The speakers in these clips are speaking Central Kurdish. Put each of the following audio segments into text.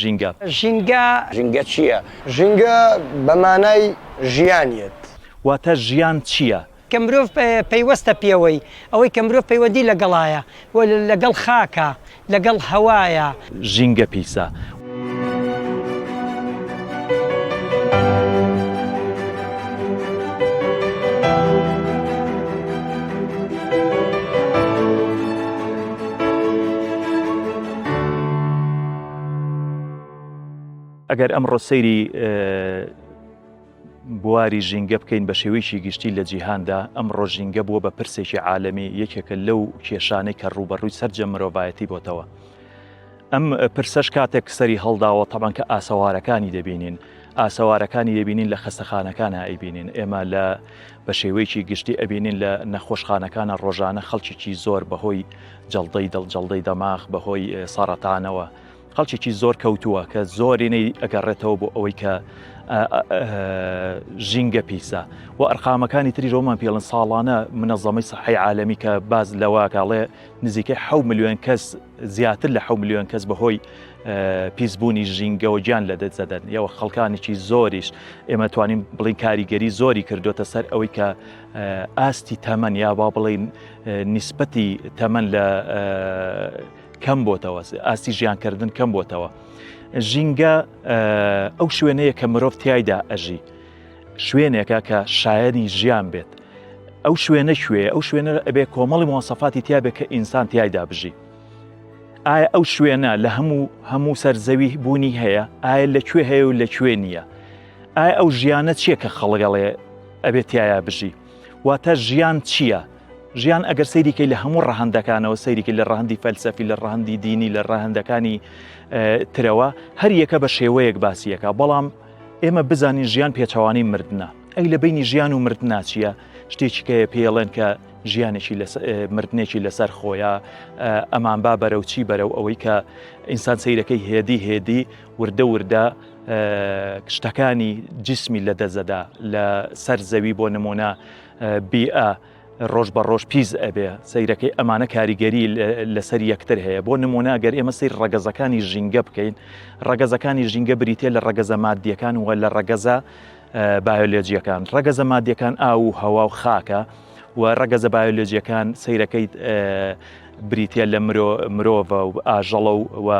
ژینگە. ژینگە چییە؟ ژینگە بە مانای ژیان یەت. واتە ژیان چییە؟ کە مرۆڤ پەیوەستە پێوەی. ئەوەی کە مرۆڤ پەیوەندی لەگەڵایە و لەگەڵ خاکە، لەگەڵ هەوایە. ژینگە پیسە، ئەگەر ئەمڕۆ سەیری بواری ژینگە بکەین بە شێوەیەکی گشتی لە جیهاندا ئەم ڕۆژینگە بووە بە پرسێکی عاالەمی یەکێکە لەو کێشانەی کە ڕوبەڕووی سرجە مرۆڤایەتی بۆتەوە. ئەم پرسەش کاتێک سەری هەڵداوە تەبان کە ئاسەوارەکانی دەبینین ئاسەوارەکانی دەبینین لە خەستەخانەکان ئەیبینین ئێمە لە بە شێوەیەکی گشتی ئەبینین لە نەخۆشخانەکانە ڕۆژانە خەڵکیی زۆر بەهۆی جەڵدەی دڵ جەڵدەی دەماغ بەهۆی سەڕەتانەوە خەڵکیی زۆر کەوتووە کە زۆرینەی ئەگەڕێتەوە بۆ ئەوەی کە ژینگە پیسە و ئەرقامەکانی تری ڕۆمان پێڵن ساڵانە منەزەمەی سەحی عاالمی کە باز لەواکەڵێ نزیکەی ح میلیۆن کەس زیاتر لە حەو ملیۆن کەس بەهۆی پیسبوونی ژینگەەوە گیان لە دەدەدەن یەوە خەڵکانێکی زۆریش ئێمە توانین بڵین کاریگەری زۆری کردوتە سەر ئەوەی کە ئاستی تەمەن یا با بڵین نیسبەتی تەمەن لە کەم بۆتەوە ئاستی ژیانکردن کەم بۆتەوە ژینگە ئەو شوێنەیە کە مرۆڤ تایدا ئەژی شوێنێکە کە شایەنی ژیان بێت ئەو شوێنە شوێ ئەو شوێنە ئەبێ کۆمەڵی مۆسەفاتی تیاابێت کە ئینسان تایدا بژی ئایا ئەو شوێنە لە هەموو هەموو سەرزەوی بوونی هەیە ئایا لە کوێ هەیە و لە کوێ نییە ئایا ئەو ژیانە چییە کە خەڵگەڵێ ئەبێت تایە بژی واتە ژیان چییە؟ ژیان ئەگەر سەیریکەی لە هەموو ڕەهندەکانەوە سەیریکی لە ڕەهندی فەلسەفی لە ڕەهندی دینی لە ڕەهندەکانی ترەوە هەر یەکە بە شێوەیەک باسیەکە بەڵام ئێمە بزانین ژیان پێچەوانەی مردنە ئەی لە بینی ژیان و مردنا چییە شتێکیکەیە پێڵێن کە ژیانێکی مردنێکی لەسەر خۆیە ئەمان با بەرە و چی بەرە و ئەوەی کە ئینسان سیرەکەی هێدی هێدی وردە وردە شتەکانی جسمی لە دەزەدا لە سەر زەوی بۆ نمونە بیئە ڕۆژ بە ڕۆژ پیس ئەبێ سەیرەکەی ئەمانە کاریگەری لەسەر یەکتر هەیە بۆ نمونە گەر ئێمە سیر ڕەگەزەکانی ژینگە بکەین ڕەگەزەکانی ژینگە بریتە لە ڕەگەزە مادیەکان وە لە ڕەگەزە بایۆلۆجیەکان ڕەگەزە مادیەکان ئاو و هەوا و خاکە و ڕەگەزە بایۆلۆجیەکان سیرەکەی بریتە لە مرۆ مرۆڤە و ئاژەڵە و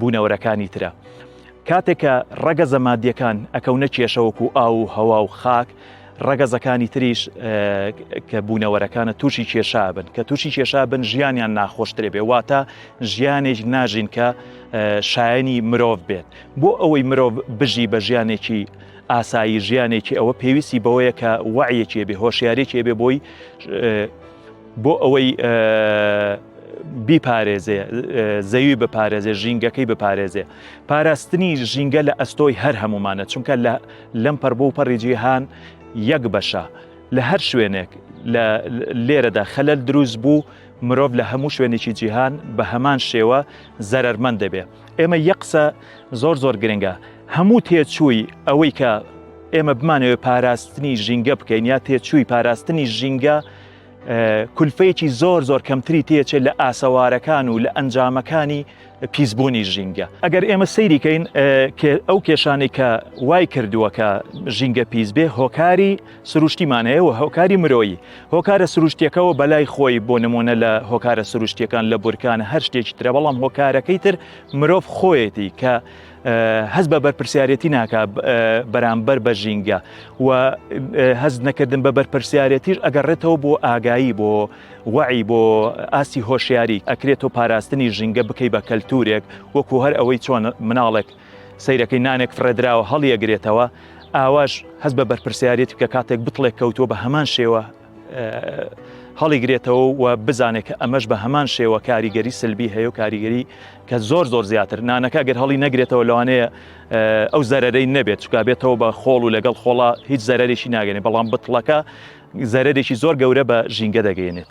بوونەوەرەکانی ترە. کاتێکە ڕەگەزە مادیەکان ئەکەونە کێشەوەکو ئاو و هەوا و خاک ڕەگەزەکانی تریش کە بوونەوەرەکانە تووشی کێشا بن کە تووشی کێشا بن ژیانیان ناخۆشترێ بێ واتە ژیانێک ناژین کە شایانی مرۆڤ بێت بۆ ئەوەی مرۆڤ بژی بە ژیانێکی ئاسایی ژیانێکی ئەوە پێویستی بەوەیە کە وعیەکێ بێ هۆشیارێکێ بێ بۆی بۆ ئەوەی بیپارێزێ زەوی بپارێزێ ژینگەکەی بپارێزێ پاراستنی ژینگە لە ئەستۆی هەر هەمومانە چونکە لە لەم پەڕ بۆ پەڕی جیهان یەک بەشە لە هەر شوێنێک لە لێرەدا خەلەل دروست بوو مرۆڤ لە هەموو شوێنێکی جیهان بە هەمان شێوە زەرەرمەند دەبێ ئێمە یە قسە زۆر زۆر گرنگە هەموو تێچووی ئەوەی کە ئێمە بمانەوە پاراستنی ژینگە بکەین یا تێچووی پاراستنی ژینگە کولفەیەکی زۆر زۆر کەمتری تێچێت لە ئاسەوارەکان و لە ئەنجامەکانی پیسبوونی ژینگە ئەگەر ئێمە سەیریکەین ئەو کێشانی کە وای کردووە کە ژینگە پیس بێ هۆکاری سروشتیمان هەیە و هۆکاری مرۆیی هۆکارە سروشتیەکەەوە بەلای خۆی بۆ نمونە لە هۆکارە سروشتیەکان لە بورکان هەر شتێکی ترە بەڵام هۆکارەکەی تر مرۆڤ خۆیەتی کە هەست بە بەرپرسیارەتی ناکە بەرامبەر بە ژینگە و هەست نەکردن بە بەرپرسیارەتیش ئەگەڕێتەوە بۆ ئاگایی بۆ وعی بۆ ئاستی هۆشیاری ئەکرێت و پاراستنی ژینگە بکەی بە کەلتورێک وەکو هەر ئەوەی چۆن مناڵێک سیرەکەی نانێک فڕێدراوە هەڵیەگرێتەوە ئاواش هەست بە بەرپرسیارێت بکە کاتێک بتڵێک کەوتووە بە هەمان شێوە هەڵیگرێتەوە و بزانێت کە ئەمەش بە هەمان شێوە کاریگەری سلبی هەیە و کاریگەری کە زۆر زۆر زیاتر نانەکە گەر هەڵی نەگرێتەوە لەوانەیە ئەو زەرەرەی نەبێت چکا بێتەوە بە خۆڵ و لەگەڵ خۆڵا هیچ زەرێکی ناگەێت بەڵام بتڵەکە زەرێکی زۆر گەورە بە ژینگە دەگەێنێت.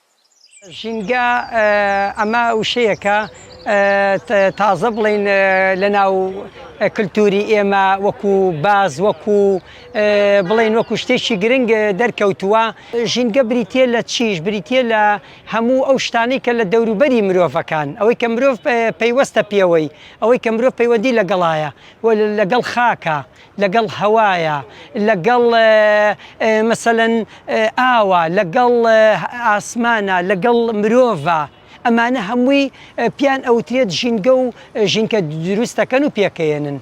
ژینگە، ئەمە وشەیەکە تازە بڵێین لەناو کلتوری ئێمە وەکو باز وەکو بڵێین وەکو شتێکی گرنگ دەرکەوتووە ژینگە بریتە لە چیش بریتە لە هەموو ئەو شتانی کە لە دەوروبەری مرۆڤەکان ئەوەی کە مرۆڤ پەیوەستە پێوەی ئەوەی کە مرۆڤ پەیوەندی لەگەڵایە لەگەڵ خاکە لەگەڵ هەوایە، لەگەڵ مەسەلەن ئاوە، لەگەڵ ئاسمانە، لەگەڵ مرۆڤە، ئەمانە هەمووی پێیان ئەوترێت ژینگە و ژینکە دروستەکەن و پێکەیەنن.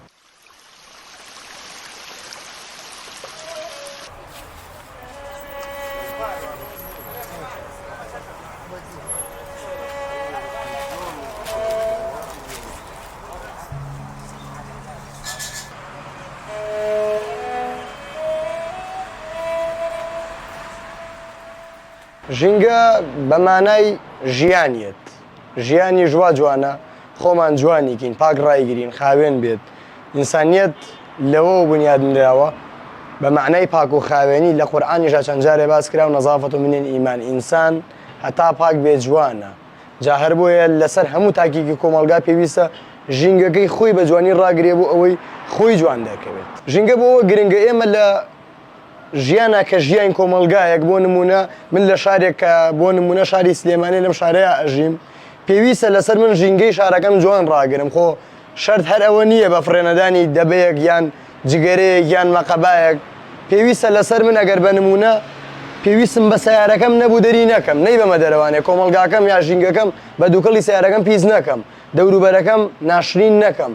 ژینگە بە مانای ژیان یەت. ژیانیش وا جوانە خۆمان جوانی کەین پاک ڕایگرین خاوێن بێت ئینسانیت لەوە بنیاد نراوە بە معنای پاک و خاوێنی لە قورآانیشا چەند جارێ باس کرا و نەزافەت و منێن ئیمان ئینسان هەتا پاک بێ جوانە جا هەر بۆیە لەسەر هەموو تاکیکی کۆمەلگا پێویستە ژینگەکەی خۆی بە جوانی ڕاگرێ بۆ ئەوەی خۆی جوان دەکەوێت ژینگە بۆەوە گرنگە ئێمە لە ژیانە کە ژیاین کۆمەڵگایەک بۆ نمونە من لە شارێک کە بۆ نمونە شاری سلێمانی لەم شارەیە ئەژیم پێویستە لەسەر من ژینگەی شارەکەم جوان ڕاگرم خۆ شەرت هەر ئەوە نییە بە فڕێنەدانی دەبەیەک یان جگەرەیە یان مەقەبایەک پێویستە لەسەر من ئەگەر بە نمونە پێویستم بە سیارەکەم نەبوو دەری نەکەم نەی بەمە دەرەوانێ کۆمەلگاکەم یا ژینگەکەم بە دووکەڵی سیارەکەم پیس نەکەم دەوروبەرەکەم ناشرین نەکەم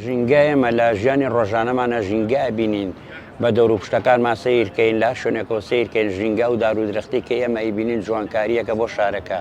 ژینگە ئێمە لە ژیانی ڕۆژانەمانە ژینگە بینین بە دەور و پشتەکانمان سیرکەین لا شوێنێکەوە سیرکەین ژینگە و دارو درختی کە ئێمە ئەیبینین جوانکاریەکە بۆ شارەکە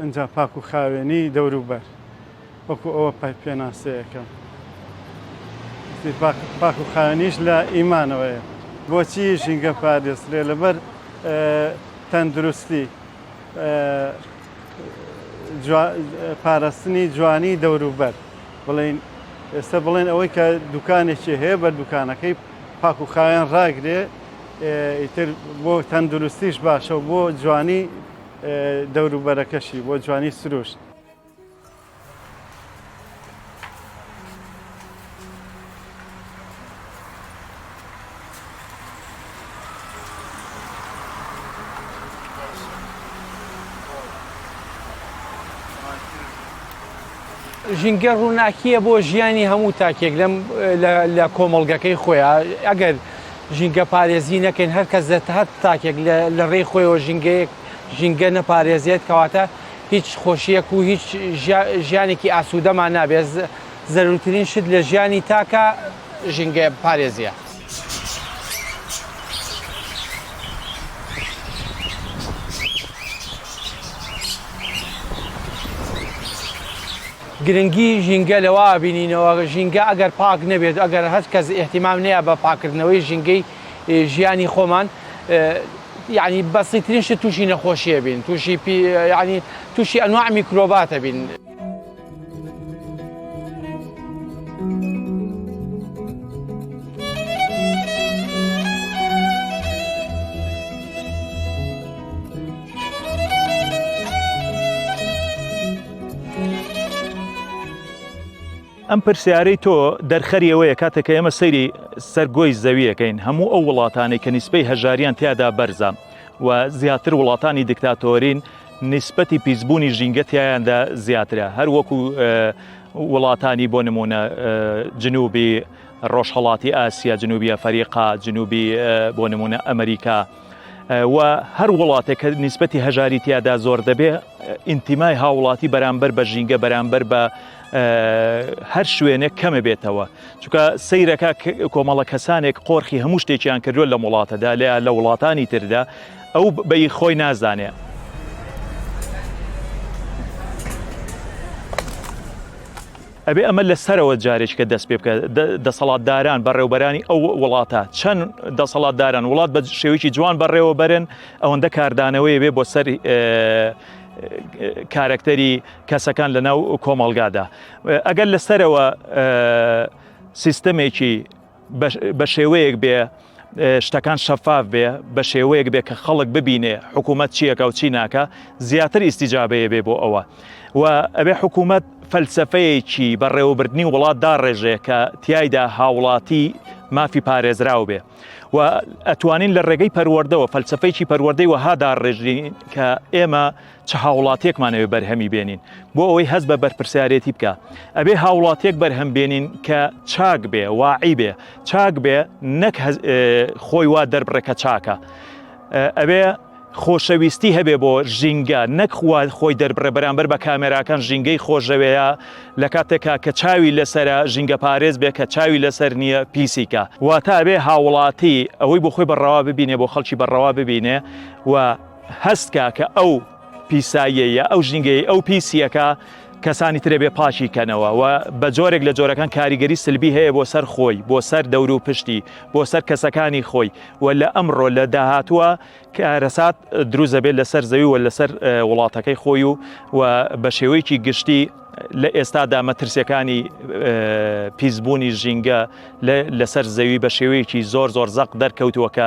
ئینجا پاک و خاوێنی دەوروبەر وەکو ئەوە پێناسەیەکە پاک و خاوێنیش لە ئیمانەوەیە بۆچی ژینگە پارێزرێ لەبەر تەندروستی پاراستنی جوانی دەوروبەر بڵین ئێستا بڵێن ئەوەی کە دوکانێکی هەیە بە دوکانەکەی پاک و خاوێن ڕاگرێ ئیتر بۆ تەندروستیش باشە و بۆ جوانی دەوروبەرەکەشی بۆ جوانی سروشت. ژینگە ڕووناکیە بۆ ژیانی هەموو تاکێک لە کۆمەڵگەکەی خۆیان ئەگەر ژینگە پارێزی نەکەین هەر کەس لە هەر تاکێک لە ڕێی خۆیەوە ژینگەیەک ژینگە نەپارێزێت کەواتە هیچ خۆشیەک و هیچ ژیانێکی ئاسوودەمان نابێت زەرورترین شت لە ژیانی تاکە ژینگە پارێزیە. گرنگی ژینگە لەوە ئەبینینەوە، ژینگە ئەگەر پاک نەبێت و ئەگەر هەچ کەس ئیهتیمام نەیا بە پاککردنەوەی ژینگەی ژیانی خۆمان یەعنی بەسیترین شت تووشی نەخۆشی ئەبین، تووشی پی یەعنی تووشی ئەنواع میکرۆبات ئەبین. ئەم پرسیارەی تۆ دەرخەری ئەوەیە کاتێک کە ئێمە سەیری سەرگۆی زەویەکەین هەموو ئەو وڵاتانەی کە نیسپەی هەژاریان تیادا بەرزە و زیاتر وڵاتانی دیکتاتۆرین نیسبەتی پیسبوونی ژینگەتیایاندا زیاترە هەر وەکو وڵاتانی بۆ نمونە جنوبی ڕۆژهڵاتی ئاسیا جنوبیە فەریقا جنوبی بۆ نمونە ئەمریکا و هەر وڵاتێک کە نیسبەتی هەژاری تیادا زۆر دەبێ ئینتیمای هاوڵاتی بەرامبەر بە ژینگە بەرامبەر بە هەر شوێنێک کەمە بێتەوە چکە سیرەکە کۆمەڵە کەسانێک قۆرخی هەموو شتێکیان کردووە لە وڵاتەدا لە لە وڵاتانی تردا ئەو بەی خۆی نازانێ ئەبێ ئەمە لە سەرەوە جارێکیکە دەست پێ بکە، دەسەڵاتداران، بەڕێوبەرانی ئەو وڵاتە، چەند دەسەڵاتدارن وڵات بە شێوەیەکی جوان بەڕێوە بەرن، ئەوەندە کاردانەوەی بێ بۆ سەر کارەکتەری کەسەکان لە ناو کۆمەڵگادا. ئەگەر لە سەرەوە سیستەمێکی بە شێوەیەک بێ شتەکان شەفاف بێ بە شێوەیەک بێ کە خەڵک ببینێ حکوومەت چیەکە و چی ناکە زیاتر ئیسیجاابەیە بێ بۆ ئەوە و ئەبێ حکوومەت فەلسفەیەکی بەڕێوەبردننی وڵات داڕێژێ کە تایدا هاوڵاتی مافی پارێزراو بێ و ئەتوانین لە ڕێگەی پەروەردەوە فەلسفەیەکی پەروەردەی وەهادا ڕێژین کە ئێمە چ هاوڵاتیەکمان ئەوێ بەرهەمی بێنین بۆ ئەوەی هەست بە بەرپرسیارێتی بکە ئەبێ هاوڵاتیەک بەرهەم بێنین کە چاک بێ واعی بێ چاک بێ نەک خۆی وا دەربڕێ کە چاکە ئەبێ خۆشەویستی هەبێ بۆ ژینگە نەک خوارد خۆی دەربڕێ بەرامبەر بە کامێراکان ژینگەی خۆشەوەیە لە کاتێکا کە چاوی لەسرە ژینگە پارێز بێ کە چاوی لەسەر نییە پیسیکە واتابێ هاوڵاتی ئەوەی بۆ خۆی بەڕەوا ببینێ بۆ خەڵکی بەڕەوا ببینێ و هەست کە کە ئەو پیساییەیە ئەو ژینگەی ئەو پیسیەکە کەسانی ترێ بێ پاچی کەنەوە و بە جۆرێک لە جۆرەکان کاریگەری سلبی هەیە بۆ سەر خۆی بۆ سەر دەور و پشتی بۆ سەر کەسەکانی خۆی و لە ئەمڕۆ لە داهاتووە کارەسات دروست دەبێت لەسەر زەوی و لەسەر وڵاتەکەی خۆی و و بە شێوەیەکی گشتی لە ئێستادا مەترسیەکانی پیسبوونی ژینگە لەسەر زەوی بە شێوەیەکی زۆر زۆر زەق دەرکەوتووە کە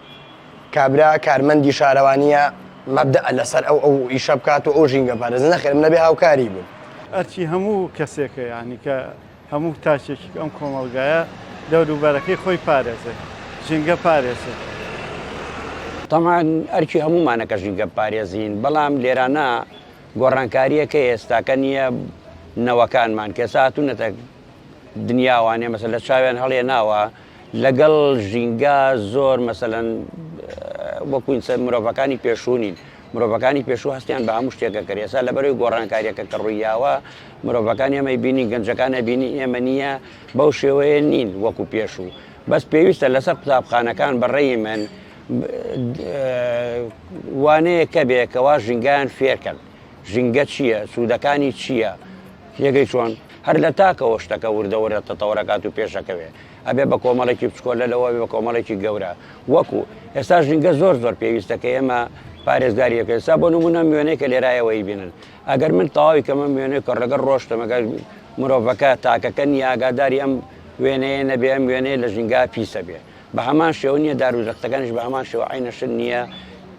کابرا کارمەندی شارەوانیە مەبدئ لەسەر ئەو ئەو ئیشە بکات و ئەو ژینگە پارێزە نەخێر منە بێ هاوکاری بوون. ئەرکی هەموو کەسێکە یانی کە هەموو تاکێکیک ئەم کۆمەڵگایە دەوروبەرەکەی خۆی پارێزێت ژینگە پارێزێت. تەمان ئەرکی هەموومانە کە ژینگە پارێزین بەڵام لێرانە گۆڕانکاریەکە ئێستاکە نیە نەوەکانمان کە ئێستا هاتوونەتە دنیاوانێ مەسەلە چاویان هەڵێناوە. لەگەڵ ژینگە زۆر مەسەلەن وەکو ئینسان مرۆڤەکانی پێشوو نین مرۆڤەکانی پێشوو هەستیان بە هەموو شتێکە کرد ئێستا لەبەرەوەی گۆڕانکاریەکە کە ڕوویاوە مرۆڤەکان ئێمەی بینی گەنجەکانە بینی ئێمە نییە بەو شێوەیە نین وەکو پێشوو بەس پێویستە لەسەر قوتابخانەکان بەڕێی من وانەیەکە بێ کەوا ژینگان فێرکەن ژینگە چییە؟ سوودەکانی چییە؟ تێگەی چۆن؟ هەر لە تاکەوە شتەکە وردە وردە تەتەوەرەکات و پێشەکەوێ. ئەبێ بە کۆمەڵێکی بچکۆلە لەوە بێ بە کۆمەڵێکی گەورە. وەکوو، ئێستا ژینگە زۆر زۆر پێویستە کە ئێمە پارێزگاری لێ بکەین. ئێستا بۆ نموونە موێنەی کە لێرایەوە ئەیبینن. ئەگەر من تەواوی کەمە موێنەی کە ڕێگە ڕۆشتم ئەگەر مرۆڤەکە تاکەکە نییە ئاگاداری ئەم وێنەیە نەبێ ئەم وێنەیە لە ژینگە پیسە بێ. بە هەمان شێوە نییە دار و درەختەکانیش بە هەمان شێوە عەینەشن نییە.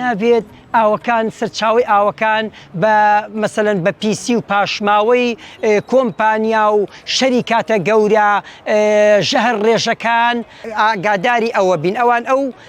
نابێت ئاوەکان سەرچاوی ئاوەکان بە مەسەن بە پیسی و پاشماوەی کۆمپانیا و شەری کاتە گەورە ژەهر ڕێژەکان ئاگاداری ئەوە بین ئەوان ئەو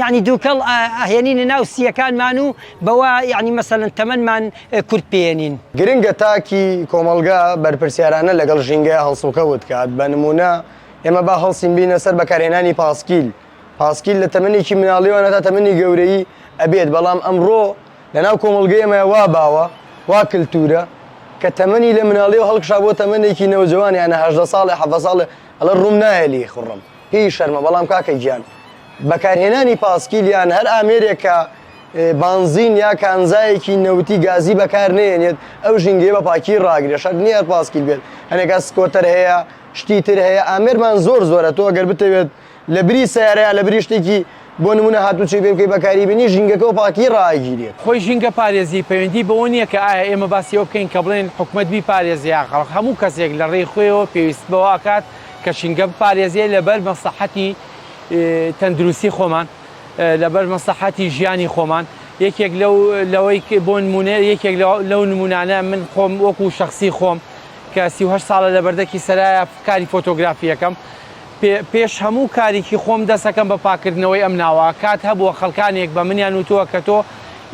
یەعنی دوکەڵ ئەهێنینە ناو سییەکانمان و بەوە یەعنی مەسەلەن تەمەنمان کورت پێێنین. گرنگە تاکی کۆمەڵگا بەرپرسیارانە لەگەڵ ژینگەیا هەڵسوکەوت کات، بە نموونە ئێمە با هەڵسین بینە سەر بەکارهێنانی پاسکیل، پاسکیل لە تەمەنێکی مناڵیەوە هەتا تەمەنی گەورەیی ئەبێت، بەڵام ئەمڕۆ لە ناو کۆمەڵگەی ئێمەیا وا باوە، وا کلتوورە، کە تەمەنی لە مناڵیەوە هەڵکشا بۆ تەمەنێکی نەوجەوان یانە هەژدە ساڵێ حەڤە ساڵێ ئەڵێ ڕووم نایە لێی خوڕم، پێی شەرمە، بەڵام کاکە گیان، بەکارهێنانی پاسکیل یان هەر ئامێرێک کە بانزین یا کانزایەکی نەوتی گازی بەکار نەیەنێت ئەو ژینگەیە بە پاکی ڕاگرێت شەرت نییە هەر پاسکیل بێت هەنێک کات سکۆتەر هەیە شتی تر هەیە ئامێرمان زۆر زۆرە تۆ گەر بتەوێت لە بری سەیارە یا لە بری شتێکی بۆ نمونە هاتوچۆی پێ بکەی بەکاری بێنی ژینگەکە بە پاکی ڕاگیرێت. خۆی ژینگە پارێزی پەیوەندی بەوە نییە کە ئایا ئێمە باسی ئەوە بکەین کە بڵێین حکومەت بیپارێزێ یا خەڵک هەموو کەسێک لە ڕێی خۆیەوە پێویست بەوە ئەکات کە ژینگە بپارێزێ لەبەر مەسڵەحەتی تەندروستی خۆمان، لەبەر مەسڵەحەتی ژیانی خۆمان، یەکێک لەو لەوەی بۆ نموونە یەکێک لەو نموونانە من خۆم وەکو شەخسی خۆم کە سی و هەشت ساڵە لە بەردەکی سەرایا کاری فۆتۆگرافی یەکەم پێش هەموو کاریکی خۆم دەسەکەم بە پاکردنەوەی ئەم ناوە کات هەبووە خەڵکانێک بە منیان وتووە کە تۆ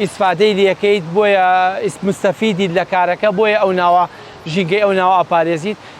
ئیسفادەی لەکەیت بۆیە مستەفیدیت لە کارەکە بۆیە ئەو ناوە ژینگەی ئەو ناوە ئەپارێزیت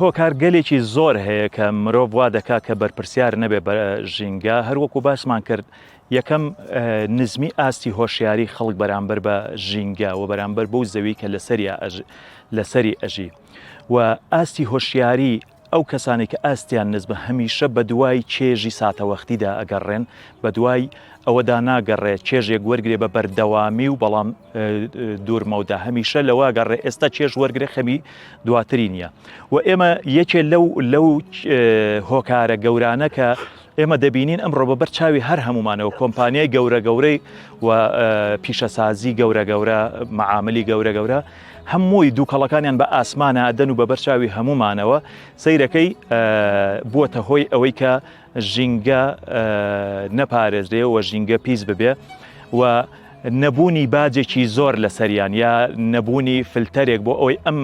هۆکار گەلێکی زۆر هەیە کە مرۆڤ وا دەکات کە بەرپرسیار نەبێ بە ژینگە هەروەکو باسمان کرد یەکەم نزمی ئاستی هۆشیاری خەڵک بەرامبەر بە ژینگە و بەرامبەر بەو زەوی کە لەسەری لەسەری ئەژی و ئاستی هۆشیاری ئەو کەسانەی کە ئاستیان نزمە هەمیشە بەدوای چێژی ساتەوەختیدا ئەگەڕێن، بەدوای ئەوەدا ناگەڕێ چێژێک وەرگرێ بە بەردەوامی و بەڵام دوور مەودا هەمیشە لەوە ئەگەڕێ ئێستا چێژ وەرگرێ خەمی دواتری نییە و ئێمە یەکێ لەو لەو هۆکارە گەورانە کە ئێمە دەبینین ئەمڕۆ بە بەر چاوی هەر هەمومانەوە کۆمپانیای گەورە گەورەی و پیشەسازی گەورە گەورە معاملی گەورە گەورە هەمووی دووکەڵەکانیان بە ئاسمانە ئەدەن و بە بەرچاوی هەمومانەوە سیرەکەی بووەتە هۆی ئەوەی کە ژینگە نەپارێزرێ و ژینگە پیس ببێ و نەبوونی باجێکی زۆر لەسەریان یا نەبوونی فلتەرێک بۆ ئەوەی ئەم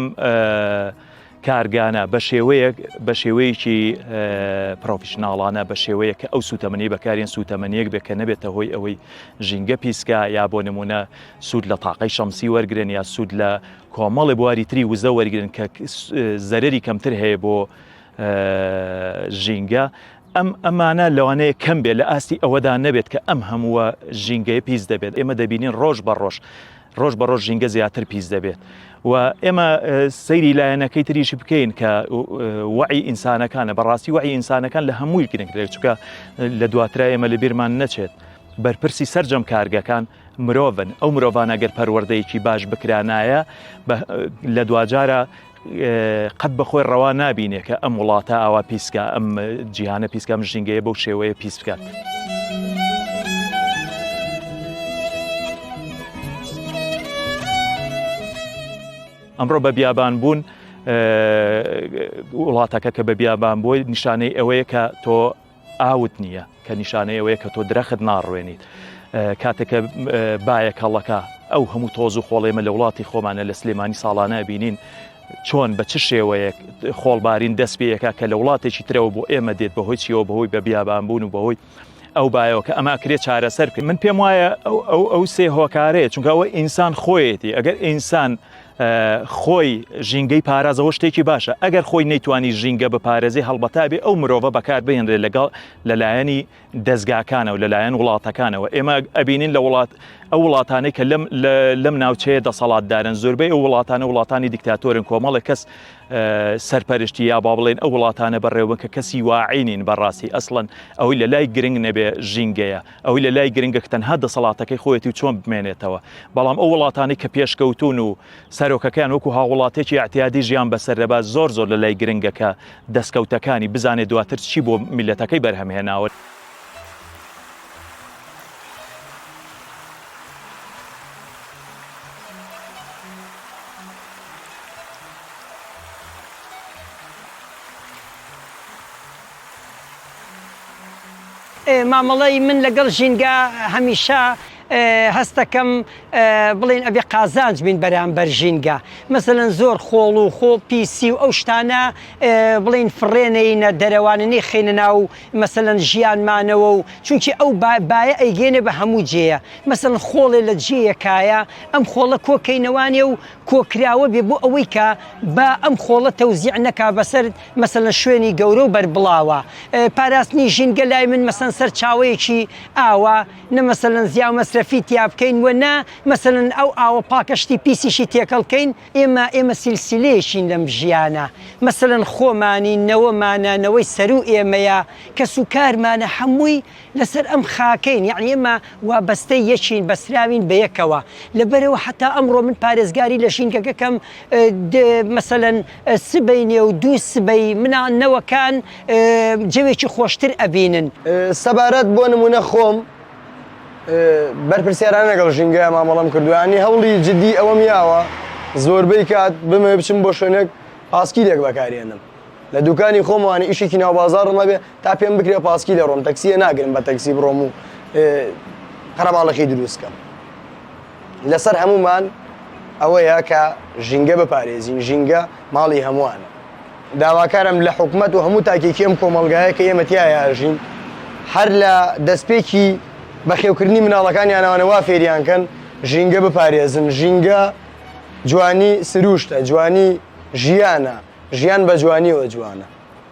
کارگانە بە شێوەیەک بە شێوەیەکی پرۆفیشنناڵانە بە شێوەیە کە ئەو سوتەمەنی بەکارێن سوتەمەنیەک بێ کە نەبێتە هۆی ئەوەی ژینگە پیسکە یا بۆ نمونە سوود لە تاقی شەمسی وەرگن یا سوود لە کۆمەڵی بواری تری وزە وەرگن کە زەرری کەمتر هەیە بۆ ژینگە ئەم ئەمانە لەوانەیە کەم بێت لە ئاستی ئەوەدا نەبێت کە ئەم هەمووە ژینگەی پیس دەبێت ئێمە دەبینین ڕۆژ بە ڕۆژ ڕۆژ بە ڕۆژ ژینگە زیاتر پیس دەبێت و ئێمە سەیری لایەنەکەی تریشی بکەین کە وعی ئینسانەکانە بەڕاستی وعی ئینسانەکان لە هەمووی گرنگترێک چکە لە دواترا ئێمە لە بیرمان نەچێت بەرپرسی سرجەم کارگەکان مرۆڤن ئەو مرۆڤانە گەر پەروەردەیەکی باش بکرانایە لە دواجارە قەت بەخۆی ڕەوا نابینێ کە ئەم وڵاتە ئاوا پیسکە ئەم جیهانە پیسکە ئەم ژینگەیە بەو شێوەیە پیس بکات. ئەمڕۆ بە بیابان بوون وڵاتەکە کە بە بیابان بۆی نیشانەی ئەوەیە کە تۆ ئاوت نییە کە نیشانەی ئەوەیە کە تۆ درەخت ناڕوێنیت کاتێک کە بایەک هەڵەکە ئەو هەموو تۆز و خۆڵێمە لە وڵاتی خۆمانە لە سلێمانی ساڵانە بینین چۆن بە چ شێوەیەک خۆڵبارین دەست پێیەکە کە لە وڵاتێکی ترەوە بۆ ئێمە دێت بەهۆی چیەوە بەهۆی بە بیابان بوون و بەهۆی ئەو بایەوە کە ئەمە کرێت چارەسەر کرد من پێم وایە ئەو ئەو سێ هۆکارەیە چونکەەوە ئینسان خۆیەتی ئەگەر ئینسان خۆی ژینگەی پارازەوە شتێکی باشە ئەگەر خۆی نەیتوانی ژینگە بپارێزی هەڵبەتابێ ئەو مرۆڤە بەکار بهێنرێت لەگەڵ لەلایەنی دەستگاکانە و لەلایەن وڵاتەکانەوە ئێمە ئەبینین لە وڵات ئەو وڵاتانەی کە لەم لەم ناوچەیە دەسەڵاتدارن زۆربەی ئەو وڵاتانە وڵاتانی دیکتاتۆرن کۆمەڵێک کەس سەرپەرشتی یا با بڵێن ئەو وڵاتانە بەڕێوە کە کەسی واعینین بەڕاستی ئەسڵەن ئەوەی لە لای گرنگ نەبێ ژینگەیە ئەوەی لە لای گرنگە کە تەنها دەسەڵاتەکەی خۆیەتی و چۆن بمێنێتەوە، بەڵام ئەو وڵاتانەی کە پێشکەوتوون و سەرۆکەکەیان وەکو هاووڵاتیەکی ئیعتیادی ژیان بەسەر دەبات زۆر زۆر لە لای گرنگە کە دەستکەوتەکانی بزانێت دواتر چی بۆ میللەتەکەی بەرهەم هێناوە. مامەڵەی من لەگەڵ ژینگە هەمیشە هەستەکەم بڵێن ئەبێ قازانج بین بەرامبەر ژینگە مەسەەن زۆر خۆڵ و خۆ پیسی و ئەو شتانە بڵین فڕێنەینە دەرەواننی خینە ناو مەسەەن ژیانمانەوە و چونکی ئەو باە ئەیگەێنێ بە هەموو جێە مەسەن خۆڵێ لە جێیەکایە ئەم خۆڵە کۆکەینەوانێ و کۆکراوە بێ بۆ ئەوەی کە بە ئەم خۆڵە تەوزیع نەکا بەسەر مەسەلەن شوێنی گەورە و بەربڵاوە پاراستنی ژینگە لای من مەسەن سەر چاوەیەکی ئاوە نە مەسەلەن زیا و مەسرەفی تیابکەین وە نە مەسەلەن ئەو ئاوە پاکە شتی پیسیشی تێکەڵکەین ئێمە ئێمە سیلسیلەیەکین لەم ژیانە مەسەلەن خۆمانی نەوەمانە نەوەی سەروو ئێمەیە کەس و کارمانە هەمووی لەسەر ئەم خاکەین یەعنی ئێمە وابەستەی یەکین بەسراوین بەیەکەوە لەبەرئەوە حەتا ئەمڕۆ من پارێزگاری لە ژینگەکەکەم مەسەلەن سبەی نێو دوو سبەی منا نەوەکان جەوێکی خۆشتر ئەبینن. سەبارەت بۆ نموونە خۆم بەرپرسیارانە لەگەڵ ژینگەیا مامەڵەم کردووە یانی هەوڵی جدی ئەوەم یاوە زۆربەی کات بمەوێ بچم بۆ شوێنێک پاسکیلێک بەکارێنم لە دوکانی خۆم وانی ئیشێکی ناو بازاڕم هەبێ تا پێم بکرێ پاسکیلێ ڕۆم تەکسیە ناگرم بە تەکسی بڕۆم و قەرەباڵخی دروست کەم. لەسەر هەموومان ئەوەیە کە ژینگە بپارێزین ژینگە ماڵی هەمووانە داواکارم لە حکومت و هەموو تاکێکی ئەم کۆمەلگایە کە ئێمەتیایە ئەژین هەر لە دەستپێکی بەخێوکردنی مناڵەکانیانەوانە وا فێریانکەن ژینگە بپارێزن ژینگە جوانی سروشتە جوانی ژیانە ژیان بە جوانیەوە جوانە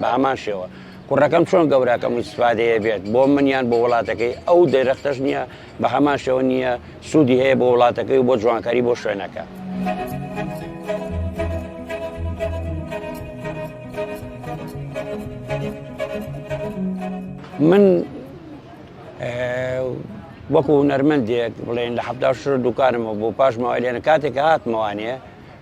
بە هەمان شێوە کوڕەکەم چۆن گەوراکەم و سفادەیە بێت بۆ من یان بۆ وڵاتەکەی ئەو دەرەختەش نییە بە هەمان شێوە نییە سوودی هەیە بۆ وڵاتەکەی و بۆ جوانکاری بۆ شوێنەکە. من وەکو نەرمەندێک بڵێن لە حدا شر دوکانمەوە بۆ پاش ماوەێنە کاتێک هاتمەوانێ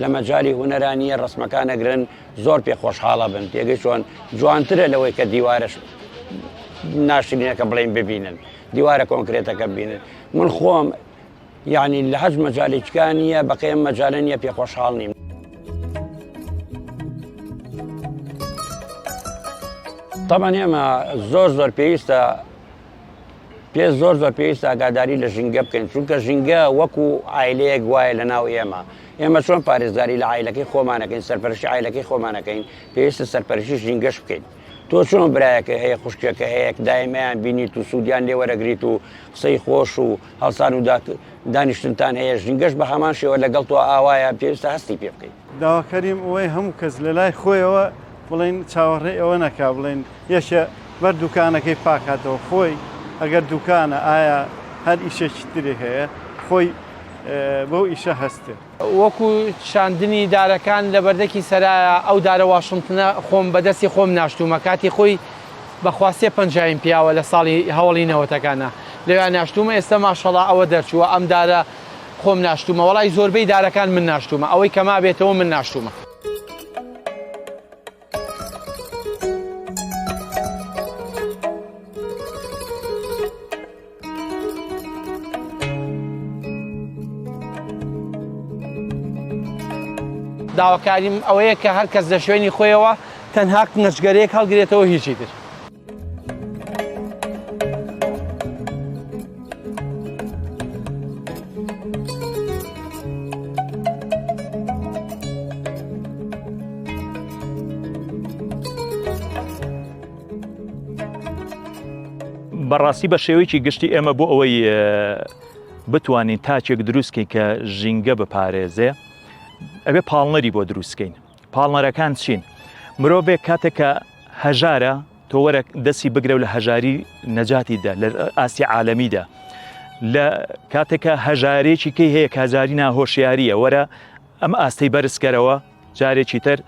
لە مەجالی هونەرا نییە ڕەسمەکان ئەگرن زۆر پێ خۆشحاڵە بن تێگەی چۆن جوانترە لەوەی کە دیوارش ناشرینەکە بڵین ببینن دیوارە کۆنکرێتەکە ببینن من خۆم یعنی لە هەج مەجاالێکان نیە بەقێم مەجاالە نیە پێ خۆشحاڵ نیم. تەمان ئێمە زۆر زۆر پێویستە پێ زۆر زۆر پێویست ئاگاداری لە ژینگە بکەین چونکە ژینگە وەکو ئایلەیەک وایە لە ناو ئێمە ئێمە چۆن پارێزگاری لە ئایلەکەی خۆمانەکەین سەرپەرشی ئایلەکەی خۆمانەکەین پێویستە سەرپەرشی ژینگەش بکەین تۆ چۆن برایەکە هەیە خوشکەکە هەیە دایمەیان بینیت و سوودیان لێ وەرەگریت و قسەی خۆش و هەڵسان و دانیشتنتان هەیە ژینگەش بە هەمان شێوە لەگەڵ تۆ ئاوایە پێویستە هەستی پێ بکەیت داواکەریم ئەوەی هەموو کەس لە لای خۆیەوە بڵێن چاوەڕێی ئەوە نەکا بڵێن یەکێ بەر دوکانەکەی پاکاتەوە خۆی ئەگەر دوکانە ئایا هەر ئیشێکی تری هەیە خۆی بەو ئیشە هەستێ. وەکو چاندنی دارەکان لە بەردەکی سەرایە ئەو دارە واشنتنە خۆم بە دەستی خۆم ناشتومە کاتی خۆی بە خوا سێ پەنجایم پیاوە لە ساڵی هەوەڵی نەوەتەکانا لەویا ناشتومە ئێستا ماشەڵا ئەوە دەرچووە ئەم دارە خۆم ناشتومە وەڵای زۆربەی دارەکان من ناشتومە ئەوەی کە مابێتەوە من ناشتومە. داواکاریم ئەوەیە کە هەرکەس لە شوێنی خۆیەوە تەنها قنچگەرەیەک هەڵگرێتەوە هیچی تر. بەڕاستی بە شێوەیەکی گشتی ئێمە بۆ ئەوەی بتوانین تاچێک دروستکەین کە ژینگە بپارێزێ ئەبێ پاڵنەری بۆ دروستکەین پاڵنەرەکان چین؟ مرۆڤێک کاتێک کە هەژارە تۆ وەرە دەستی بگرە و لە هەژاری نەجاتی دە لە ئاستی عالەمیدا لە کاتێکە هەژارێکی کەی هەیە کازاری ناهۆشیاریە وەرە ئەم ئاستی بەرزکەرەوە جارێکی تر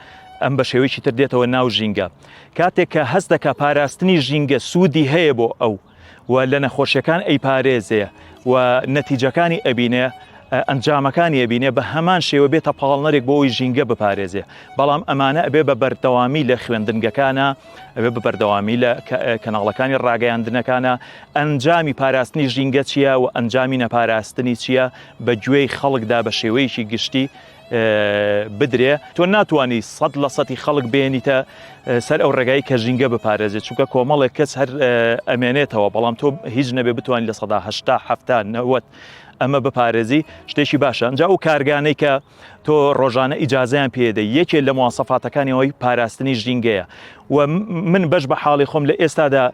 ئەم بە شێوەیەکی تر دێتەوە ناو ژینگە کاتێک کە هەست دەکە پاراستنی ژینگە سوودی هەیە بۆ ئەو و لە نەخۆشیەکان ئەیپارێزێ و نەتیجەکانی ئەبینێ ئەنجامەکانی ئەبینێ بە هەمان شێوە بێتە پاڵنەرێک بۆ ئەوی ژینگە بپارێزێ بەڵام ئەمانە ئەبێ بە بەردەوامی لە خوێندنگەکانە ئەبێ بە بەردەوامی لە کەناڵەکانی ڕاگەیاندنەکانە ئەنجامی پاراستنی ژینگە چییە و ئەنجامی نەپاراستنی چییە بە گوێی خەڵکدا بە شێوەیەکی گشتی بدرێ تۆ ناتوانی سەد لە سەتی خەڵک بێنیتە سەر ئەو ڕێگای کە ژینگە بپارێزێت چونکە کۆمەڵێک کەس هەر ئەمێنێتەوە بەڵام تۆ هیچ نەبێ بتوانین لە سەدا هشتا هەفتا نەوەت ئەمە بپارێزی شتێکی باشە ئەجا و کارگانەی کە تۆ ڕۆژانە ئیجاازیان پێدە یەکێ لە موواسەفاتەکانیەوەی پاراستنی ژینگەیە و من بەش بە حاڵی خۆم لە ئێستادا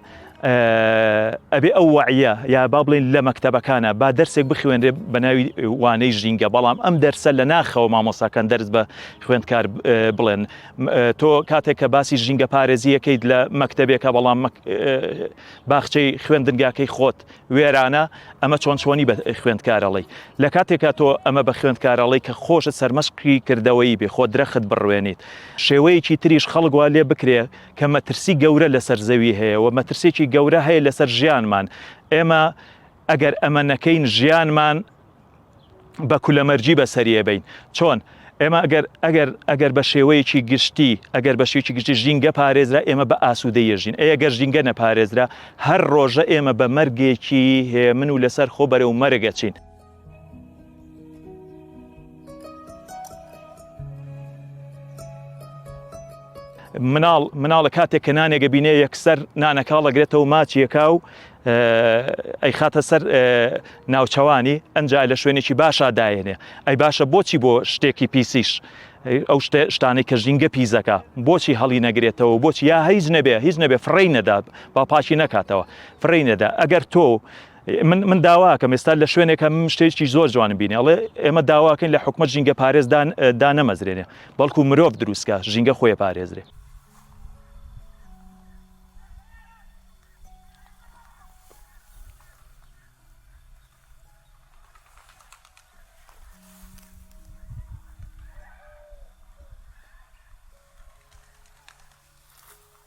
ئەبێ ئەو وەعیە یا با بڵێن لە مەکتەبەکانە با دەرسێک بخوێنرێ بە ناوی وانەی ژینگە بەڵام ئەم دەرسە لە ناخەوە مامۆساکان دەرس بە خوێندکار بڵێن تۆ کاتێک کە باسی ژینگە پارێزیەکەیت لە مەکتەبێکە بەڵام باخچەی خوێندنگاکەی خۆت وێرانە ئەمە چۆن چۆنی بە خوێندکارەڵی لە کاتێکا تۆ ئەمە بە خوێندکارەڵی کە خۆشت سەرمەشقی کردەوەی بێ خۆ درەخت بڕوێنیت شێوەیەکی تریش خەڵگووا لێ بکرێ کە مەترسی گەورە لەسەر زەوی هەیە و مەترسێکی گەورە هەیە لەسەر ژیانمان ئێمە ئەگەر ئەمە نەکەین ژیانمان بە کولەمەرجی بەسەریە بین چۆن ئێمە ئەگەر ئەگەر ئەگەر بە شێوەیەکی گشتی ئەگەر بە شێکی گشتی ژینگە پارێزرا ئێمە بە ئاسوودە یەژین ئەگەر ژینگە نەپارێزرا هەر ڕۆژە ئێمە بە مەرگێکی هێمن و لەسەر خۆ بەرەو مەرگەچین مناڵ مناڵە کاتێک کە نانێکە بینێ یەکسەر نانەکاڵەگرێتەوە ماچیەکە و ئەی خاتە سەر ناوچەوانی ئەنج لە شوێنێکی باشا داێنێ ئەی باشە بۆچی بۆ شتێکی پیسیش ئەو شتانەی کە ژینگە پیزەکە بۆچی هەڵی نەگرێتەوە بۆچی یا هیچ نەبێ هیچ نەبێ فڕی نەدا با پاشی نەکاتەوە فڕی نەدا ئەگەر تۆ من من داواکەم ئێستا لە شوێنێک هەم شتێکی زۆر جوانم بینێ ئەڵێ ئێمە داواکەین لە حکومە ژینگە پارێزدان دانەمەزرێنێ بەڵکو مرۆڤ دروستکە ژینگە خۆی پارێزرێ